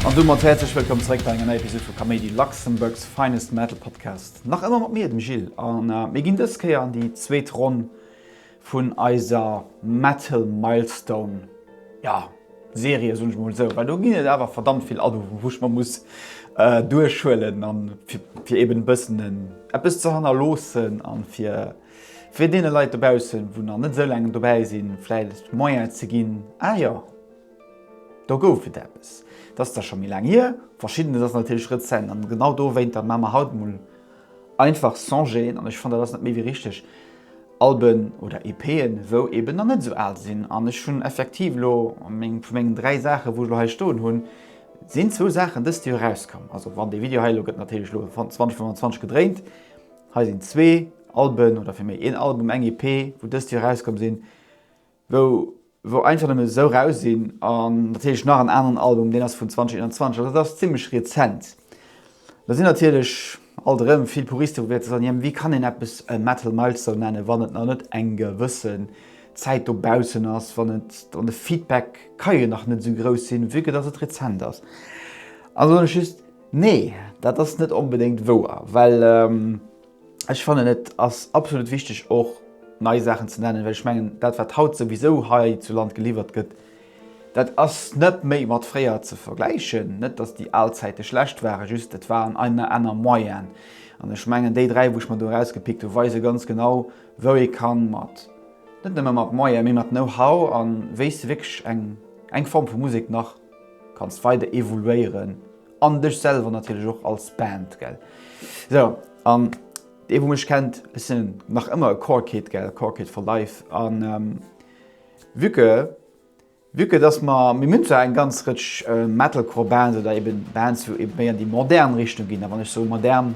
An domat häerzlech wëllkomm zeréck bei enger neier Episod vu Kaméidi, Luxembourg's finest metal podcast. Nach ëmmer mat mir, dem Gil, a mir ginn dës Kéier an déi zweet Ronn vun eiser Metal Milestone, ja, Serie, soen ech emol esou, well do ginn et awer verdammt vill Albumen, wou ech mer muss duerchhuelen, fir eeben e bëssen eppes ze hannerloossen a fir, Fir deene Leit dobaussen, wou nach net esou laang dobäi sinn, vläicht d'Moyen ze ginn, Ah jo, do gouf et eppes. Dat ass da scho méi laang hier. Verschiddenes ass natierlech rezent. An genau dowéinter maan mer haut emol einfach Songen. An ech fannen, dat ass net méi wéi richteg. Alben oder EPen, wou eben nach net esou al sinn. An ech hunn effektiv elo meng, vu mengen dräi Saachen, wou ech elo hei stoen hunn, sinn zwou Saachen dëst Joer erauskomm. Also wann dee Video hei elo gëtt natierlech elo 2025 gedréint, Hei sinn zwee Alben, oder fir méi een Album, eng EP, wou dëst Joer erauskomm sinn, wou wou einfach nëmmen esou eraus sinn, an natierlech nach en aneren Album, deen ass vun 2021, also dat ass zimmlech rezent. Do sinn natierlech alt erëm vill Puristen, wou wäerte soen, jo, wéi kann een eppes e Metal Milestone nennen, wann et nach net eng gewësse Zäit dobaussen ass, wann et, wann de Feedback, ka jo nach net esou grouss sinn, vu que dass et rezent ass. Also soen ech just, Nee, dat ass net onbedéngt wouer, well ech fannen et ass absolut wichteg och nei Saachen ze nennen, well ech mengen dat wat haut souwisou hei zu Land geliwwert gëtt, dat ass net méi mat fréier ze vergläichen. Net datt déi al Zäite schlecht waren, just et waren aner Moyenen an ech mengen déi dräi wou ech mer do erausgepickt hunn weise ganz genau wou ee kann mat net nëmme mat Moyene mee mat Know-how a wéi s de wierklech eng eng Form vu Musek nach kanns weider evoluéieren an dech selwer natierlech och als Band gell sou an dee wou mech kennt ech sinn nach ëmmer e Core Kid gell Core Kid for life an ähm, vue que vue que dass mer mir hunn zwar eng ganz Rëtsch Metalcore Bands oder eben Bands wou eben méi an déi modern Richtung ginn a wann ech sou modern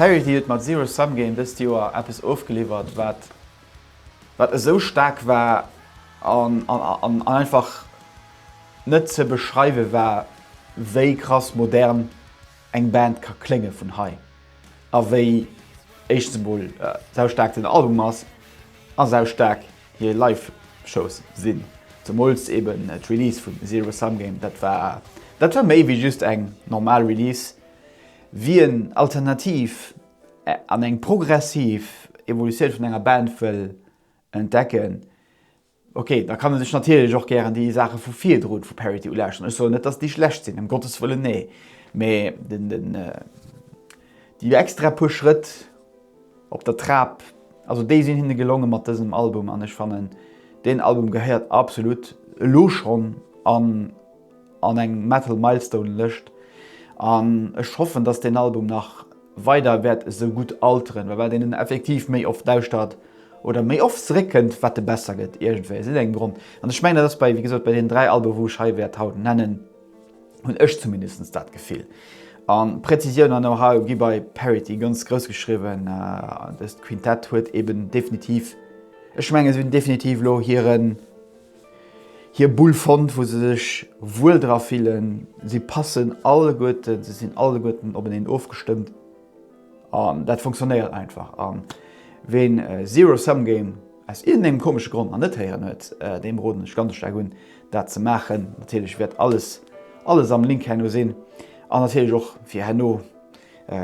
Parity huet mat Zero Sum Game dëst Joer eppes ofgeliwwert wat wat esou staark war an an einfach net ze beschreiwe war wéi krass modern eng Band ka klénge vun hei. A wéi éischtens emol sau staark den Album ass a sau staark hir Live-Shows sinn, zemools eben d'Release vun Zero Sum Game, dat war dat war méi wéi just eng normal Release, wien alternativ an eng progressiv Evolutioun vun enger Band wëll entdecken, Ok, da kann e sech natierlech och gären déi Saache vu virdrun vu Parity ulauschteren. Ech soen net, dass déi schlecht sinn, ëm Gottes Wëllen, nee. Mee déi extra puer Schrëtt op der Trap, also déi sinn hinne gelongen mat dësem Album an ech fannen, deen Album gehéiert absolut elo schonn an. an eng Metal Milestone Lëscht an ech hoffen dass deen Album nach weider wäert esou gutt alteren, well wat een effektiv méi oft lauschtert oder méi oft zeréck kënnt, wat e besser gëtt iergendwéi aus iergendengem Grond an ech mengen dat ass bei wéi gesot bei deenen 3 Alben wou ech hei wäert haut nennen, hunn ech zumindest dat Gefill. An Präzisioun an Know-How gi bei Parity ganz grouss geschriwwen an dëst Quintett huet eben definitiv, ech mengen se hunn definitiv elo hiren. hir Bull fonnt wou se sech wuel dra fillen, si passen alleguerten, se sinn alleguerten openeen ofgestëmmt an dat funktionéiert einfach. An ween Zero Sum Game aus iergendengem komesche Grond nach net héieren huet, deem roden ech ganz staark un dat ze maachen. Natierlech wäert alles alles am Link herno sinn an natierlech och fir herno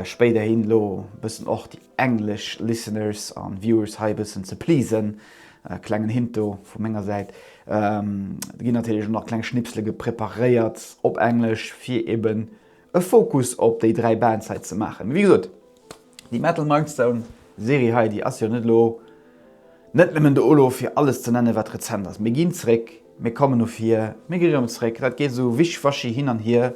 spéiderhin elo bëssen och déi English listeners an viewers hei e bëssen ze pleasen, klengen Hint do vu menger Säit, do ginn natierlech och nach kleng Schnipsele preparéiert op Englesch fir eben e Fokus op déi 3 Bands hei ze maachen. Mee wéi gesot, déi Metal Mindstone Serie hei, déi ass jo net elo net nëmmen do elo fir alles ze nennen, wat rezent ass. Mir ginn zréck. Mir kommen no vir, mir gi rëm zréck, dat geet esou wisch-waschi hin an hier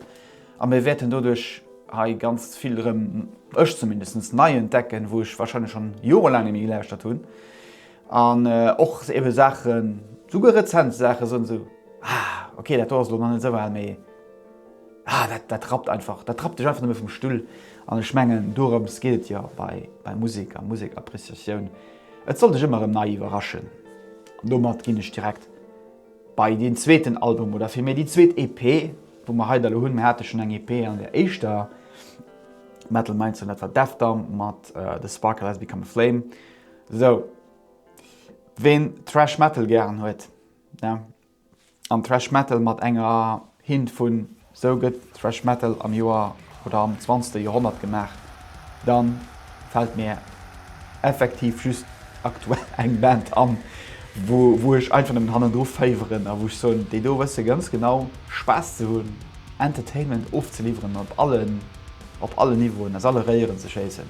a mir wäerten doduerch hei ganz vill erëm, ech zumindest, nei entdecken, wou ech wahrscheinlech schonn jorelaang net méi gelauschtert hunn an och ebe Saachen, souguer rezent Saachen, soen esou, Ah, ok, dat do ass elo nach net esou al, mee ah, dat, dat rappt einfach, dat rappt dech einfach net méi vum Stull. An ech mengen, dorëms geet et jo bei Musek a Musekappréciatioun. Et soll dech ëmmer erëm nei iwwerraschen. An domat ginn ech direkt bei deen zweeten Album oder vill méi déi zweet EP, wou mer hei da lo hunn. Mer hate schonn eng EP an der éischter Metal Mind Zone, dat war Deathdawn mat The Sparkle Has Become A Flame. Sou, ween Thrash Metal gären huet, An Thrash Metal mat enger Hint vun sou gëtt Thrash Metal am Joer oder am zwanzegste Joerhonnert gemaach, da fält mir effektiv just aktuell eng Band an, wou ech einfach nëmmen hannendru féiweren a wou ech soen, déi do wësse ganz genau Spaass ze hunn, Entertainment ofzeliwweren op allen, op allen Niveauen, aus alle Réieren ze schéissen.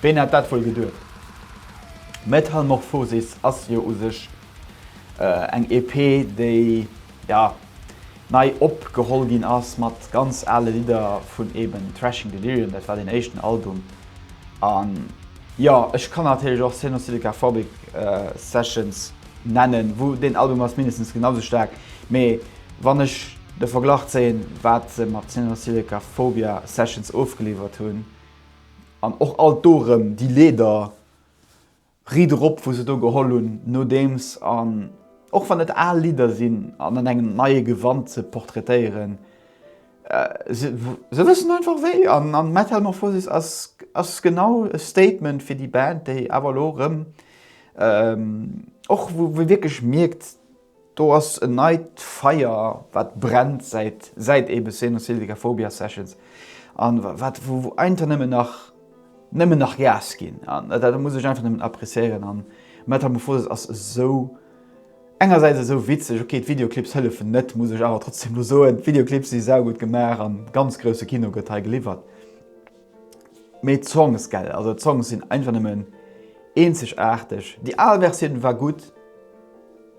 Ween hätt dat wuel geduecht? Metalmorphosis ass jo u sech eng EP, déi jo nei opgeholl ginn ass mat ganz ale Lidder vun eben Thrashing Delirium, dat war deen éischten Album. Jo, ech kann natierlech och Senosilika Phobic Sessions nennen, wou deen Album ass mindestens genau sou staark, mee wann ech de Verglach zéien, wat se mat Senosilika Phobia Sessions ofgeliwwert hunn, an och alt do erëm déi Leeder, Ried erop, wou se do geholl hunn nodeems, an och wann et al Lidder sinn, an an engem neie Gewand ze portraitéieren, Se wëssen einfach wéi an Metalmorphosis ass genau e Statement fir déi Band, déi awer elo erëm och wou ee wierklech mierkt, do ass en neit Feier wat brennt säit eebe Senosilvica Phobia Sessions an wat wou einfach nëmmen nach nëmmen nach Gas ginn an dat muss ech einfach nëmmen appreciéieren an Metalmorphosis ass esou. Engersäits esou witzeg, ok d'Videoclips hëllefen net, muss ech awer trotzdem lo soen, d'Videoclips si saugutt gemaach an ganz grousse Kino gëtt hei geliwwert. Mee d'Songs gell, also d'Songs sinn einfach nëmmen eenzegaarteg. Déi al Versioun war gutt,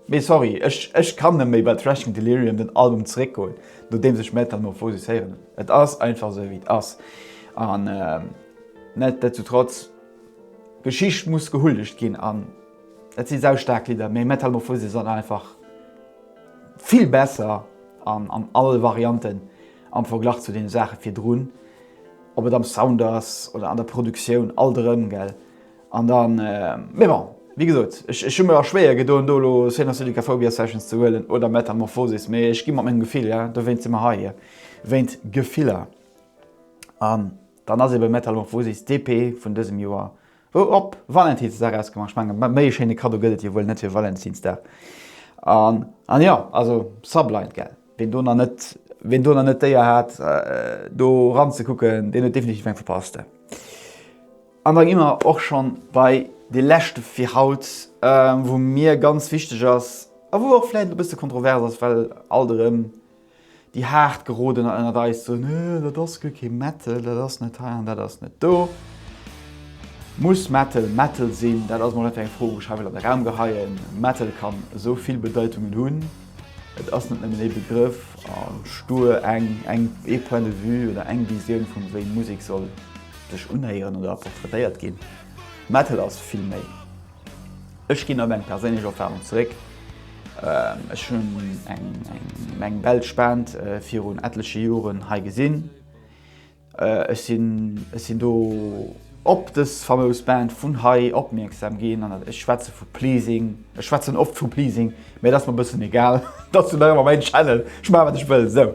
mee sorry, ech ech kann net méi bei Trash and Delirium den Album zeréckgoen nodeems ech Metamorphosis héieren hunn. Et ass einfach esou wéi et ass an netdetzutrotz, d'Geschicht muss gehuldegt ginn an Et si sau staark Lidder, mee Metalmorphosis ass einfach vill besser an all Varianten am Verglach zu deene Saache virdrun. Ob et am Sound ass oder an der Produktioun, alt erëm, gell. An da, mee bon, wéi gesot, ech hu mer och schwéier gedoen, do elo Senosylicaphobia Sessions ze huelen oder Metalmorphosis, mee ech gi mat mengem Gefill, jo, dowéint si mer hei, jo, wéint Gefiller. An dann ass eebe Metalmorphosis d'EP vun dësem Joer Ho op Valentinsdag ausgemaach, ech mengen méi e schéine Kaddo gëtt et jo wuel net fir Valentinsdag. An an jo, also Sublight gell, ween do nach net ween do nach net d'Éier hat do ran ze kucken, deen huet definitiv eng verpasst. An da gi mer och schonn bei dee leschte fir haut, wou mir ganz wichteg ass a wou och vläicht e bësse kontrovers ass, well alt erëm Déi haart gerodener ënnert eis soen, Hee, dat ass guer kee Metal, dat ass net hei an dat ass net do. Muss Metal Metal sinn? Dat ass mol einfach eng Fro wou ech hei wëll an de Raum geheien. Metal kann esou vill Bedeitungen hunn. Et ass net nëmmen ee Begrëff a stuer eng, eng, ee Point de vue oder eng Visioun vun wéi Musek soll sech unhéieren oder portraitéiert ginn. Metal ass vill méi. Ech ginn op eng perséinlech Erfarung zeréck. Ech hunn eng eng Belsch Band virun etleche Joren hei gesinn. Ech sinn ech sinn do op dës famous Band vun hei opmierksam ginn an ech schwätze vu Pleasing, ech schwätzen oft vu Pleasing. Mee et ass mer bëssen egal, dass du nach ëmmer mäin Channel, ech maache wat ech wëll sou.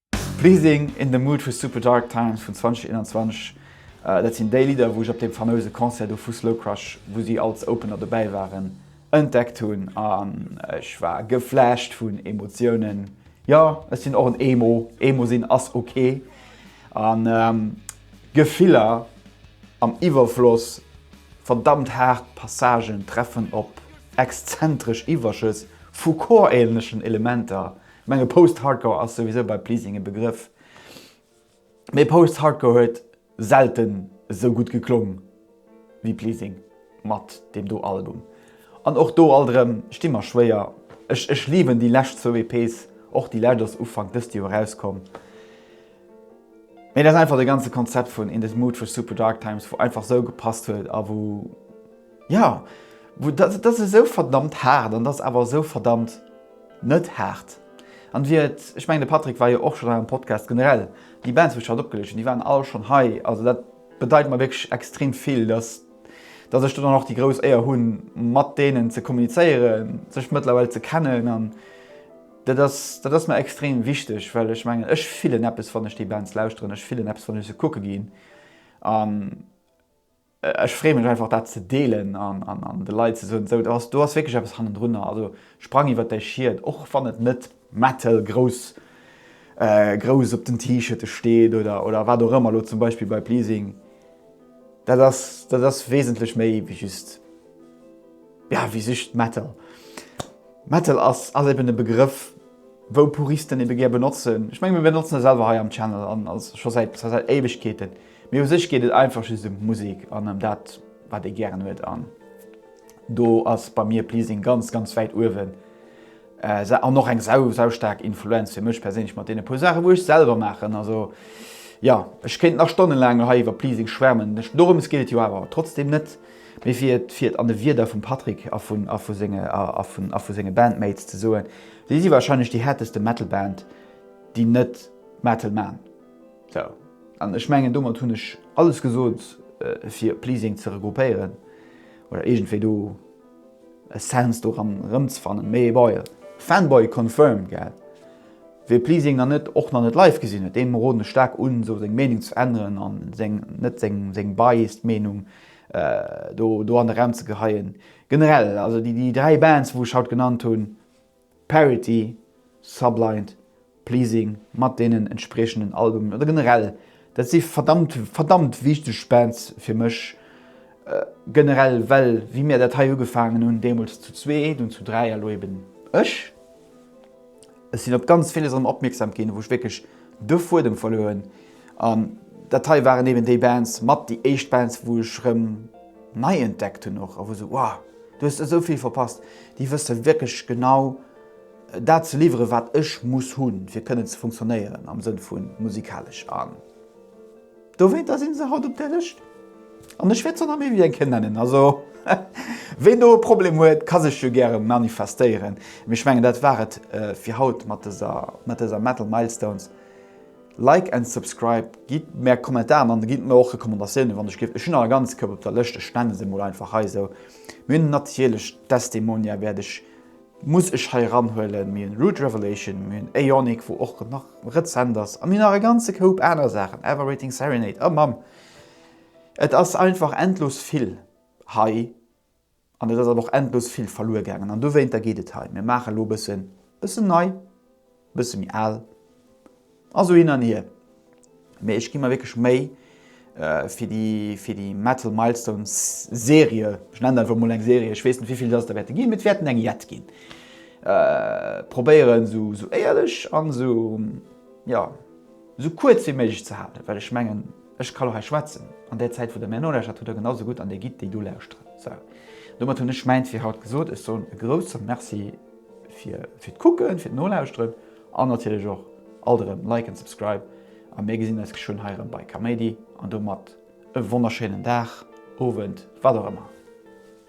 Pleasing in the Mood vu Super Dark Times vun 2021, dat sinn déi Lidder wou ech op deem famouse Concert do vu Slow Crush, wou si als Opener dobäi waren, entdeckt hunn an ech war geflasht vun Emotiounen. Jo, ech sinn och en Emo, Emo sinn ass ok an Gefiller am Iwwerfloss, verdammt haart Passagen treffen op exzentresch Iwwerschëss vu chorähnlechen Elementer, Menge Post-Hardcore ass souwisou bei Pleasing e Begrëff, mee Post-Hardcore huet selten esou gutt geklong wéi Pleasing mat deem do Album. An och do alt erëm sti mer schwéier. Ech ech liwen déi lescht zwou EPs, och déi lescht ass Ufank dëst Joer erauskomm, mee et ass einfach de ganze Konzept vun In This Mood for Super Dark Times wou einfach esou gepasst huet a wou, Jo, dat ass esou verdammt haart an dat ass awer esou verdammt net haart. An wéi et, ech mengen de Patrick war jo och schonn hei am Podcast, generell déi Bands wou ech haut opgelicht hunn, déi waren all schonn hei, also dat bedeit mer wierklech extrem vill, dass dass ech do dann och déi grouss Éier hunn mat deenen ze kommunizéieren, sech mëttlerweil ze kennen an dat ass dat ass mer extrem wichteg, well ech mengen ech fillen eppes wann ech déi Bands lauschteren, ech fillen eppes wann ech se kucke ginn an Ech freeë mech einfach dat ze deelen an de Leit ze soen, esou do ass wierklech eppes hannendrunner. Also sprang iwwert däi Schied, och wann et net Metal grouss grouss op den T-Shirte steet oder wat och ëmmer, elo zum Beispill bei Pleasing. Dat ass dat ass wesentlech méi wéi just ja wéi just Metal. Metal ass ass eben e Begrëff wou Puristen ebe gär benotzen. Ech meng mir benotzen e selwer hei am Channel an als scho säit säit Éiwegkeeten. Mee u sech geet et einfach just ëm d'Musek an ëm dat, wat ee gären huet. An do ass bei mir Pleasing ganz, ganz wäit uewen. An och eng sau, sau staark Influenz fir mech perséinlech mat deene puer Saachen, wou ech selwer maachen. Also jo, ech kéint nach stonnelaang lo hei iwwer Pleasing schwärmen. Dorëms geet et jo awer trotzdeem net, mee fir et, fir et an de Wierder vum Patrick a vun, a vu senge, a vun, a vu senge Bandmates ze soen, Si si warscheinlech déi häerteste Metal-Band, déi net Metal man. Sou, an ech mengen domat hunn ech alles gesot fir Pleasing ze regroupéieren oder iergendwéi do e Sense doran erëmzefannen. Mee ebäi, Fanboy confirmed, gell? Wee Pleasing nach net, och nach net live gesinn huet, deem roden ech staark un sou seng Meenung ze änneren an seng, net seng, seng biased Meenung do do an de Raum ze geheien. Generell, also déi dräi Bands wou ech haut genannt hunn, Parity, Sublight, Pleasing mat deenen entspriechenden Albumen oder generell, dat si verdammt, verdammt wichteg Bands fir mech generell, well wéi mir dat hei ugefaangen hunn, deemools zu zwee, dunn zu dräi a lo eben ech, ech sinn op ganz villes erëm opmierksam ginn, wou ech wierklech de Fuedem verluer hunn, An dat hei waren eben déi Bands, mat déi éischt Bands, wou ech rëm nei entdeckt hunn och, a wou sou, Wow, du hues esou vill verpasst! Déi wësse wierklech genau dat ze liwweren, wat ech muss hunn, fir kënnen ze funktionéieren am Sënn vu musikalesch. An dowéinter si se haut op där Lëscht. An ech wäert se och nach méi wéi eng Kéier nennen. Also, ween do e Problem huet, ka sech jo gäre manifestéieren. Mee ech mengen, dat war et fir haut mat dëser Metal Milestones. Like and subscribe, gidd mär Kommentaren an gidd mär och Recommandatiounen wann ech gelift. Ech hunn nach e ganze Koup op der Lëscht, ech nenne se mol einfach hei esou. Mir hunn natierlech Desdemonia wäert ech, muss ech hei eran huelen, mir hunn Root Revelation, mir hunn Aeonic wou och nach rezent ass a mir hunn nach e ganze Koup aner Saachen, Everwaiting Serenade, oh Mamm et ass einfach endlos vill hei. An et ass awer och endlos vill verluer gaangen. An dowéinter geet et hei. Mir maache elo e bëssen, bëssen nei, e bësse méi al a sou hin an hier. Mee ech gi mer wierklech Méi fir déi, fir déi Metal Milestones Serie, ech nennen dat einfach emol eng Serie, ech weess net wéivill datt der wäerte ginn, mee et wäerten eng jett ginn, probéieren esou éierlech an esou, jo. Esou kuerz wéi méiglech ze halen, well ech mengen, ech kann och hei schwätzen an där Zäit, wou Der mär nolauschtert, hutt Der genau esou gutt an Dir gitt déi do lauschteren. Sou, domat hunn ech mäint fir haut gesot. Ech soen e grouse Merci fir d'Kucken, fir d'Nolauschteren an natierlech och alt erëm liken, subscriben a mir gesinn eis geschwënn hei erëm bei Kaméidi. An domat e wonnerschéinen Dag, Owend, wat och ëmmer.